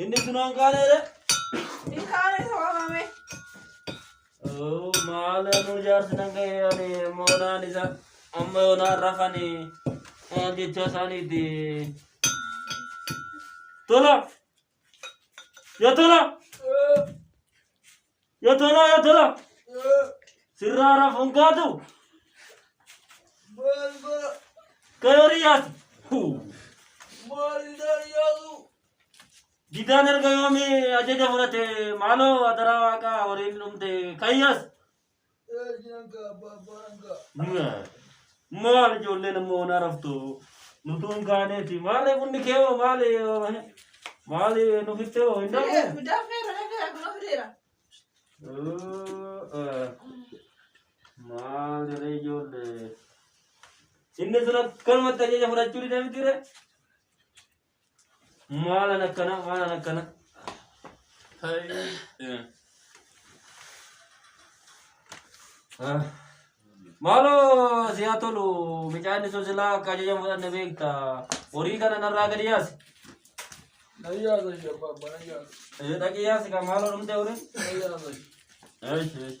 Inni kun waan kaaneera. Hin kaane isa waamame. Oo, Maal ammoo jaarsi nan ga'e ani moonaan isa amma yoonaan rafani maal jecha isaaniiti. Tola! Yaa tola! Yotoloo yotoloo sirraa rafuun kaatu kayorii yaati didaan erga yoomii ajaja fudhate maaloo adaraa waaqaa horiin dhumte kayyas Maal ijoolleen ammoo waan araftu nutuu hin kaaneeti maarree bunni kee hoo maali maali nufittee hoo hin dafne. Maali ree ijoollee inni sun akkanumatti ajaja fudhachuu didee miti ree. Maalan akkana maalan akkana. Maaloo si haa tolu micaanni sun silaa akka ajajan fudhanne beekta. Horii kana narraa gadi yaasi. Nayyaasa ishee abbaa abbaa nayyaasa. Eh, Dhaqii yaasi kan maaloo dhumtee horii. Nayyaasa ishee. Eish, eish.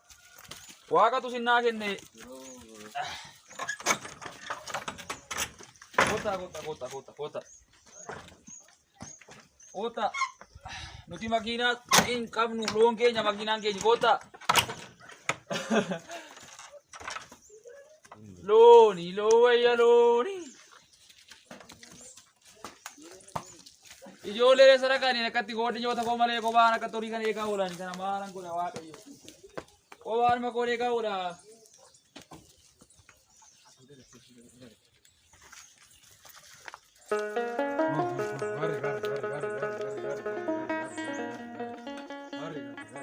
Waaqatu sinnaa kenne. Kota, kota, kota, kota, kota. Kota. Nuti makiinaa hin qabnu loon keenya makiinaan keenya kota. Looni, loo wayya looni. Ijoollee reessa dhaqaniin akkatti goodni nyoota koo malee kophaan akka horii kan eegaa oolan kana maalan godha waaqayyo. Kophaan makoon eegaa oola.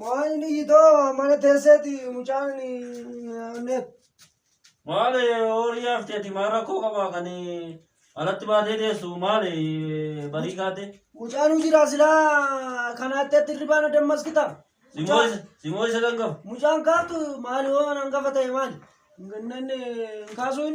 Maayini yitoo mana teesseeti mucaan neef. Maali horii hafti ati maal rakkoo qabaa kan alatti baatee teessu maali barii kaate. Mucaan hojii silaa kanaatti atti irribaan adammas kita. Simoo isa kan qabu. Mucaan kaatu maali waan hangafa ta'e maali? Kaasuun.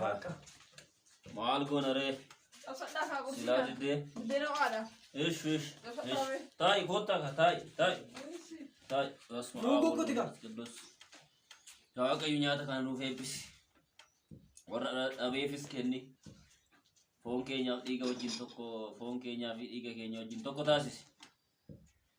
Waaqa. Maal goona ree? Cabsadhaa kaa Silaa qursiidhaan. diddee. Buddeena ho'aadha. Ish ish. ish. Taa'i koottaa ka taa'i taa'i taa'i. Basma Nuu gugguti kaa. Qidduus. Yaa Waaqayyo nyaata kana nuuf eebbisi. Warra dha- dhabeefis kenni. Foon keenyaaf dhiiga wajjin tokko foon keenyaa fi dhiiga keenya wajjin tokko taasisi.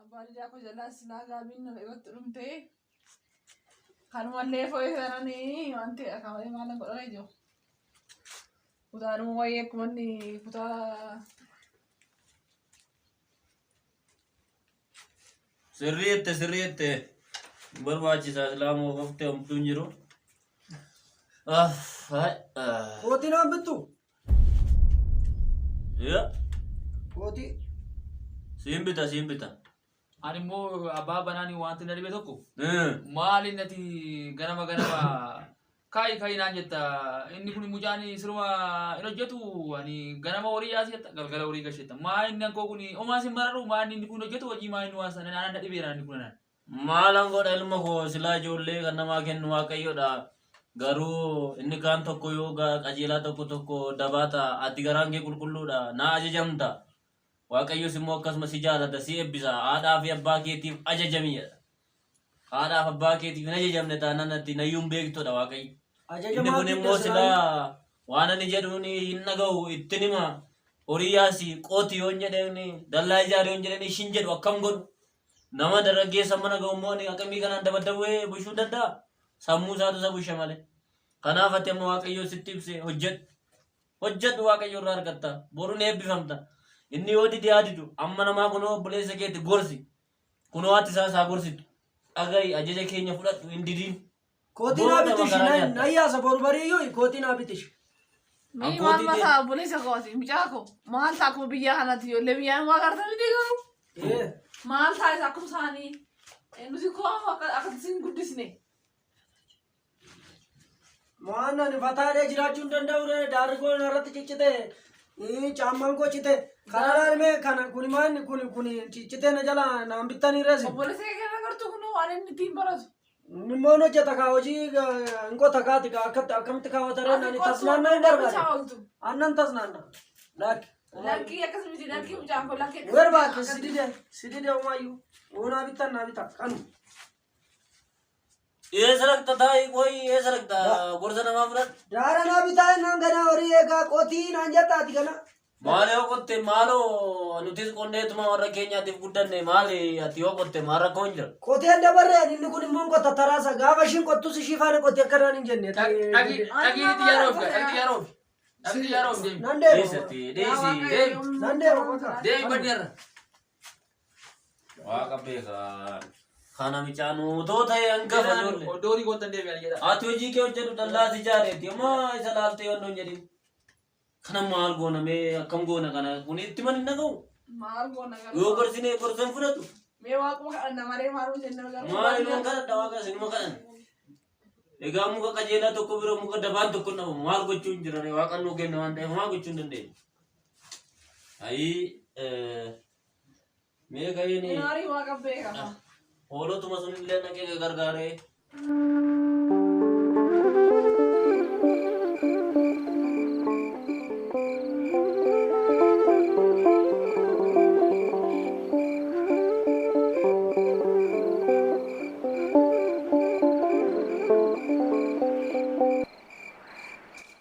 Abbaan ijaa koo jalaa silaa gaabiin nan irratti dhumtee kanumallee foo'ee sananii waan ta'e akaawee maalan godhana jiru. Kutaanuma wayii akkuma inni kutaa Sirrii jette sirrii jette hin barbaachisaa silaa moo qofte homtuu hin jiru. Ah, hai, ah. Kootii naan bittu. Ya, Kootii. siin bita siin bita. Ani immoo abbaa banaani wanti na dhibe tokko Eh, maali nati ganama ganama Kaa'i kaa'i naan jetta inni kun mucaan siruma hin hojjetu ani ganama horii yaasi jetta galgala horii gashi jetta maa inni ankoo kun omaas hin mararu maa inni inni kun hin hojjetu hojii maa inni waan sana naan dhibeera inni kun naan. Maalan godha ilma koo silaa ijoollee kan namaa kennu waaqayyodha garuu inni kaan tokko yoo qajeelaa tokko tokko dabaa ta'a ati garaan kee qulqulluudha naa ajajamta Waaqayyos immoo akkasuma si jaalata, si eebbisa, haadhaa fi abbaa keetiif ajajami jedha. Haadhaa fi abbaa keetiif hin ajajamne taanaan ati nayyuu hin beektudha Waaqayyo. Ajaja Inni kun maatiif immoo keessan silaa waan ani jedhuun hin dhaga'u ittin hima. Horii yaasi qooti yoon jedheen dallaa ijaari yoon jedheen ishin jedhu akkam godhu. Nama dargaggeessa mana ga'u immoo ani aqimii kanaan dabaddawwee bushuu danda'a. Sammuu isaatu isa bushe malee. Kanaaf ati amma Waaqayyoo sitti ibse hojjedhu. Hojjedhu Waaqayyo irraa argatta. Boru ni eebbifamta. Inni yoo dide haa didu. Amma namaa kunoo obboleessa keeti gorsi. Kunoo haati isaas haa gorsitu. Dhaga'i ajaja keenya fudhadhu hin didiin. Kootii naa Booda bitishi makaraa na nyaatta. na yaasa boru barii iyyuu kootii naa bitishi. Mee Abbootii maal mataa tee- obboleessa kooti mucaa koo maal ta'a akkuma biyyaa kanatti ijoollee biyyaa immoo agartan miti garuu Ee, maal ta'a isa akkuma isaanii Eh, nuti koo akka akkatti isin guddisne Mo'aan ani fataadhee jiraachuu hin danda'u ree daarri koo narratti ciccite ii, caammaan koo cite kana laalme kana kuni maanni kuni kuni ciccite na jala naan bittanii reesi Obboleessa kee kana gartuu kun waan inni ittiin baratu. inni immoo hin hojjeta kaa hojii eh, hin qota kaati kaa akkatti akkamitti kaawwata ree nani tasnaannaa hin barbaade Bichaa ooltu. annan tasnaanna laakki Lakkii akkas miti lakkii mucaan kun lakkii akkas. Werbaake sidide sidide umayyu unaa bitta naa bita kanu Eessa dhaqxa taa'i qoy eessa dhaqxa gorsa namaa fudhadhu. Daara naa bitaa innaan ganaa horii eegaa qotii naan jattaati kana. Maali yoo qotte maaloo nutis qonneetuma warra keenyaatiif guddanne maali ati yoo qotte maal rakkoo hin jira. Qoteen dabarree ani inni kun immoo hin qotta taraasa gaafa ishiin qottus ishii faana qotti akka naan hin jenne. Dhaqii itti yaroof dhaqii yaroof dhaqii yaroof deemi. Nan deema. Dhiisatti dhiisi deemi Nan deema. deemi baddeerra. Waaqa beekaa. Kana micaanuu too ta'e hanga fayyoolle. Odoori goota deebi'an jedha. Ati hojii kee hojjedhu dallaas ijaareeti. Amma isa laaltee yoo hin jedhin. Kana maal goona mee akkam goona kana kun itti man hin dhaga'u. Maal goona gara. Yoo gorsinee gorsan fudhatu. Mee waaquma kadhanna maree maal hojjenna gara. Maal ilmaan kadhadha waaqa isinuma kadhan. Egaa muka qajeelaa tokko bira muka dabaan tokko hin dhabamu. Maal gochuu hin jirre waaqan nuu kenna waan ta'eef maa gochuu hin dandeenye. Ayii. Mee ga'ee ni. Inaarii waa qabbee qaba. Hoolotuma sun illee dhaqee gargaaree.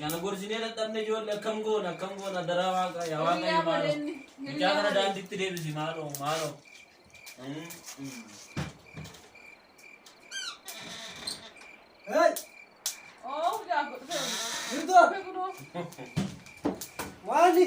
Kana gorsinee dadhabne ijoollee akkam goona akkam goona daraa waaqa yaa waaqa yaa maaloo. Mucaa kana daandiitti deebisi maaloo maaloo. Waali.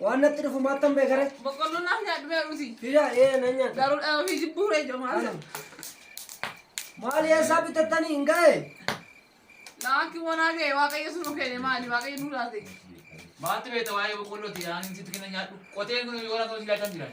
Waan natti dhufu maattan beekare. Boqqolloo naaf nyaadhu mee ruuti. Fidaa ee nan nyaadha. Garuu dhala ofii jibbuu ree ijoo maal jedhu. Maali eessaa bitattanii hin ga'e? Laakki wanaa ga'e waaqayyo sun nu kenne maali waaqayyo nu laate. Maatti beekta waa'ee boqqolloo ti aanin sitti kenna nyaadhu. Qoteen kun yoo lafa hojii laatan jiran.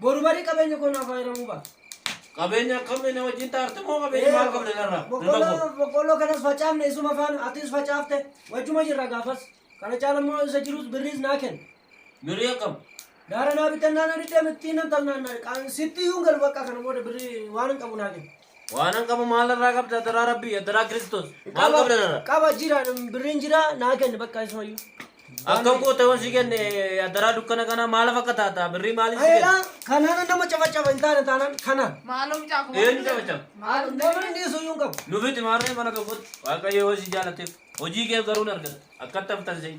Boru barii qabeenya koo naaf fayyadamuu ba'a. Qabeenya akkamii na wajjin taarte moo qabeenya maal qabna narraa? Boqqolloo boqqolloo kanas facaafne isuma faana atis facaafte wajjuma jirra gaafas. Kana caala immoo isa jirus birriis naa kenna. Birrii akkam? Gaara naa bitannaan ani deemettii nan talnaan sitti iyyuu hin galu bakka kana booda birrii waan hin qabu naa kenna. Waanan qabu maal irraa qabda adaraa rabbii adaraa kiristoos maal Qaba- qabda narra Qaba jira birriin jira naa kenni bakka isumayyuu. akkam goota yoon si kenne adaraa dukkana kana maala fakka taata birrii maalin si Ayeedha kenne kanaan nama cafacafa hin taane taanaan kanaan. Maaloo mucaa kun. Eenyu cabacaba? Maaloo nama inni dhiyeessuu hin qabu. nufiti maarree mana tokkotti waaqayyo yoo si jaalateef hojii kee garuu hin argata akkatti haftan seeyi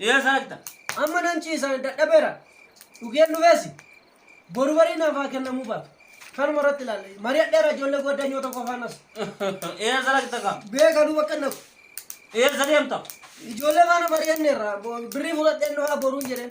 Eessa dhaqxa? Amma nan ciisa dadhabeera. Dhugeen dhufeessi. Boru barii naaf haa kennamuu baatu. Kanuma irratti ilaalle. Mari'adheera ijoollee goddanyoota koo faanas. Eessa dhaqxa kaa? Beekanuu bakka hin dhaqu. Eessa deemta? Ijoollee faana mari'anneerra. Bo- Birrii fudhadheen dhufaa boruun jedheen.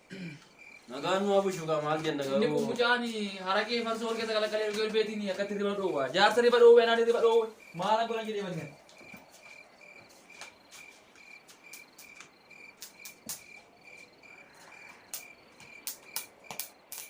Nagaan nu abushu gaa maal jenna Inni kun garuu. mucaan haraqee farsoo wal keessa qalaqalee dhugee beetiin akkatti riba dhoowwa. Jaarsa riba dhoowwe anaan riba dhoowwe. Maal akka godhan jedhee banne.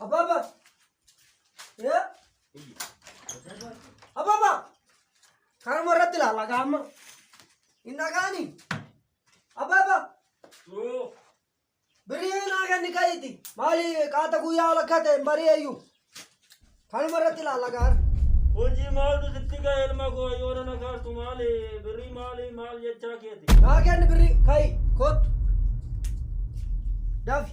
Ababa. Yeah. Ababa. Karama irratti ilaala gaama. Hin dhagaani. Ababa. Birii naa ganni kayiti. Maali qaata guyyaa lakkaa ta'e hin bari'eeyyu. Kanuma irratti ilaala gaara. Hojii maaltu sitti ga'e ilma koo yoo nana kaastu maali birrii maali maal jechaa keeti. Naa ganni birii kayi kottu. Dafi.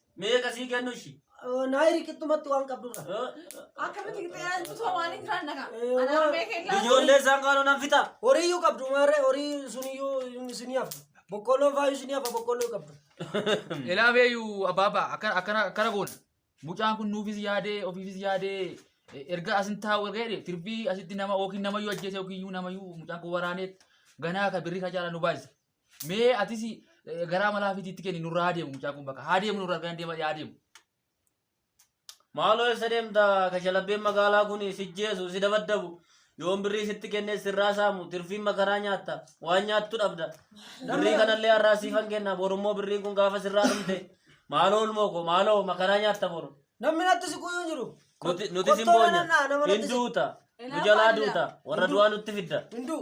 Meeqa sii kennu ishii? Naayiri qixxumatti waan qabdurra. Akkamitti qixxeerantu too maaliin jiraan dhagaa? Ana harmee keellaa. Ijoollee isaan kaanuu nan fixa. Horii iyyuu qabdu maarree horii sun iyyuu isinii hafa. Boqqoolloon faayuu isinii hafa boqqoolloo qabdu. Elaabeeyu abbaabaa akkana akkana akkana goona. Mucaan kun nuufis yaadee ofiifis yaadee eh, erga asin taa'u erga jedhe tirbii asitti nama yookiin namayyuu ajjeese yookiin iyyuu namayyuu mucaan kun waraanee ganaa ka birrii ka caalaa nu baay'isa. Mee atis eh, garaa malaa fitiitti kenni nurraa haa deemu mucaa kun bakka haa deemu nurraa argaan deema yaa deemu. Maaloo eessa deemta kashalabbeen magaalaa kun si jeesu si dabaddabu yoon birrii sitti kennee sirraa saamu tirfiin makaraa nyaatta waan nyaattu dhabda birrii kanallee har'aa siifan kenna borummoo birriin kun gaafa sirraa dhumte maaloo ilmoo koo maaloo makaraa nyaatta boru Namni natti siquu hin jiru. nuti nuti sin Qottoo boonya nanna'a, nama hin natti siqu. duuta nu jalaa duuta warra du'aa nutti fidda Hinduu.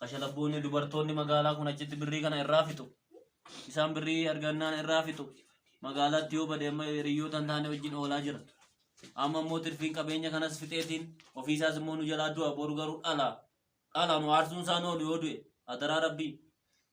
Kashalabboonni dubartoonni magaalaa kun achitti birrii kana irraa fixu. Isaan birrii argannaan irraa fixu. Magaalaatti yoo bade amma hiriyyoota hin taane wajjin oolaa jira. Amma immoo tirfiin qabeenya kanas fixeetiin ofiisaas immoo nu jalaa du'a boru garuu dhala. Dhala nu aarsuun isaa nu oolu yoo du'e adaraa rabbii.